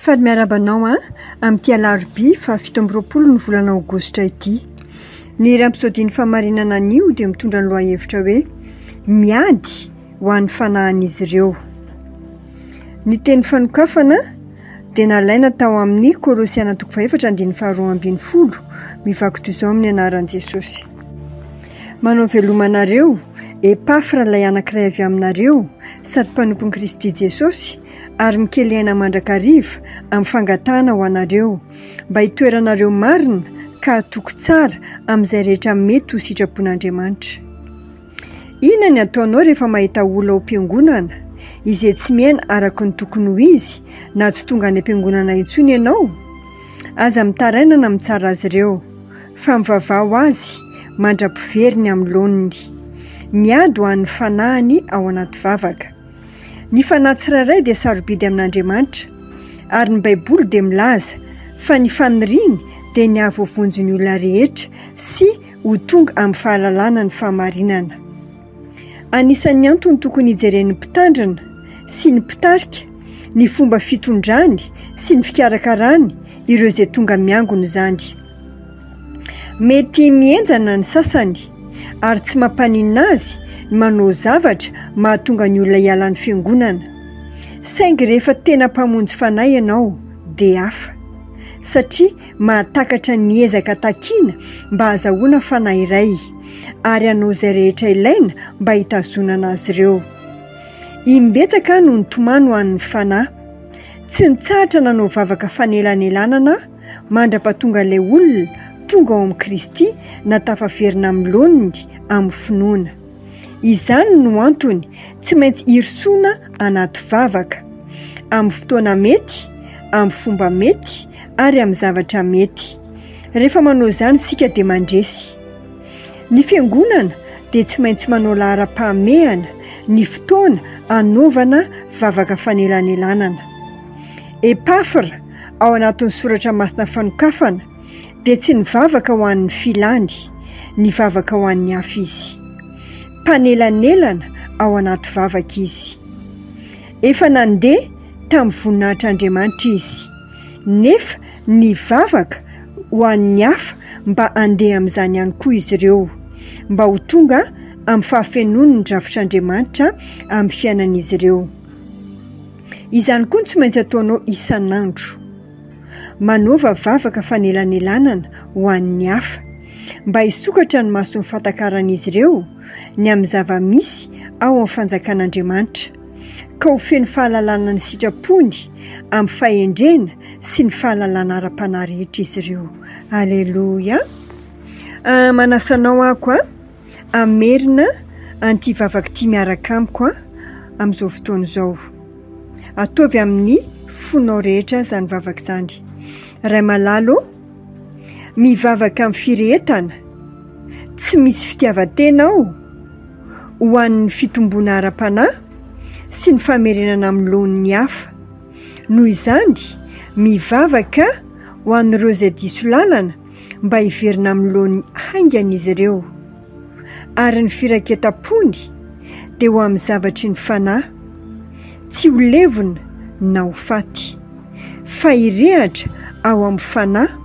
Faly miarahaba anao an! Amin'ity alarobia faha fito amby roapolo ny volana aogositra ity. Ny iray episodin'ny fahamarinana anio dia mitondra ny lohahevitra hoe Miady ho an'ny fanahin'izy ireo. Ny teny fanokafana dia nalaina tao amin'ny Kolosiana toko fahefatra andininy faharoa ambin'ny folo, mivaky toy izao amin'ny anaran'i Jesosy. Manao veloma anareo, Epafra ilay anankiray avy aminareo, sady mpanompon'i Kristy Jesosy, ary mikely aina mandrakariva amin'ny fangatahana ho anareo, mba hitoeranareo marina ka hatoky tsara amin'izay rehetra mety ho sitrapon'Andriamanitra. Inona ny ataonao rehefa mahita olona ao am-piangonana izay tsy miaina araka ny tokony ho izy na tsy tonga any am-piangonana intsony ianao? Aza mitaraina na mitsara azy ireo, fa mivavaha ho azy mandra-piveriny amin'ny laoniny. Miady ho an'ny fanahiny ao anaty vavaka. Ny fanahy tsirairay dia sarobidy amin'Andriamanitra, ary ny Baiboly dia milaza fa ny faniriany dia ny hahavovonjy ny olona rehetra sy ho tonga amin'ny fahalalana ny fahamarinana. Anisan'ny antony tokony hijeren'ny mpitandrina sy ny mpitarika ny fomba fitondrany sy ny fikarakarany ireo izay tonga miangona izany. Mety mihenjana ny sasany, ary tsy mampaninona azy ny manao zavatra mahatonga ny olona hiala ny Fiangonana. Saingy rehefa tena mpamonjy fanahy ianao, dia hafa. Satria mahatakatra ny ezaka takiana mba hahazahoana fanahy iray, ary hanao izay rehetra ilaina mba hitazonana azy ireo. Imbetsaka aho no nitomany ho an'ny fanahy. Tsy nitsahatra nanao vavaka fanelanelanana aho. mandra-pahatonga ilay olona tonga ao amin'i Kristy na tafaverina amin'ny laoniny amin'ny finoana. Izany no antony tsy maintsy irosoana anaty vavaka, amin'ny fotoana mety, amin'ny fomba mety ary amin'ny zavatra mety. Rehefa manao izany isika dia mandresy. Ny Fiangonana dia tsy maintsy manao laharam-pahamehana ny fotoana anaovana vavaka fanelanelanana. Epafra ao anatin'ny soratra masina fanokafana dia tsy nivavaka ho an'ny filany, nivavaka ho an'ny hafa izy. Mpanelanelana ao anaty vavaka izy. Efa nandeha tamin'ny voninahitr'Andriamanitra izy, nefa nivavaka ho an'ny hafa mba handeha amin'izany ihany koa izy ireo, mba ho tonga amin'ny fahafenoan'ny drafitr'Andriamanitra amin'ny fiainan'izy ireo. Izany koa no tsy maintsy ataonao isan'andro. Manaova vavaka fanelanelanana ho an'ny hafa, mba hisokatra ny mason'ny fatakaran'izy ireo ny amin'ny zava-misy ao amin'ny Fanjakan'Andriamanitra, ka ho feno fahalalana ny sitrapony amin'ny fahendrena sy ny fahalalana ara-panahy rehetra izy ireo. Aleloia! Manasa anao aho koa Hamerina an'ity vavaka ity miaraka amiko an! amin'izao fotoana izao. Ataovy amin'ny fonao rehetra izany vavaka izany. Ray malala ô, mivavaka amin'ny firehetana tsy misy fitiavan-tena aho ho an'ny fitomboana ara-panahy sy ny famerenana amin'ny laoniny hafa. Noho izany, mivavaka ho an'ireo izay diso lalana, mba hiverina amin'ny laoniny haingana izy ireo, ary ny firaiketam-pony dia ho amin'ny zavatry ny fanahy, tsy ho levona na ho faty, fa hirehatra ao amin'ny fanahy,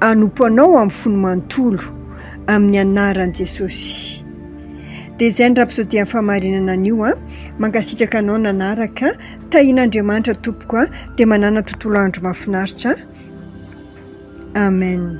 hanompo Anao amin'ny fony manontolo, amin'ny anaran'i Jesosy. Dia izay ny Rapsodia ny fahamarinana anio an! Mankasitraka anao nanaraka. Tahiana Andriamanitra tompoko a dia manana tontolo andro mafinaritra a Amen.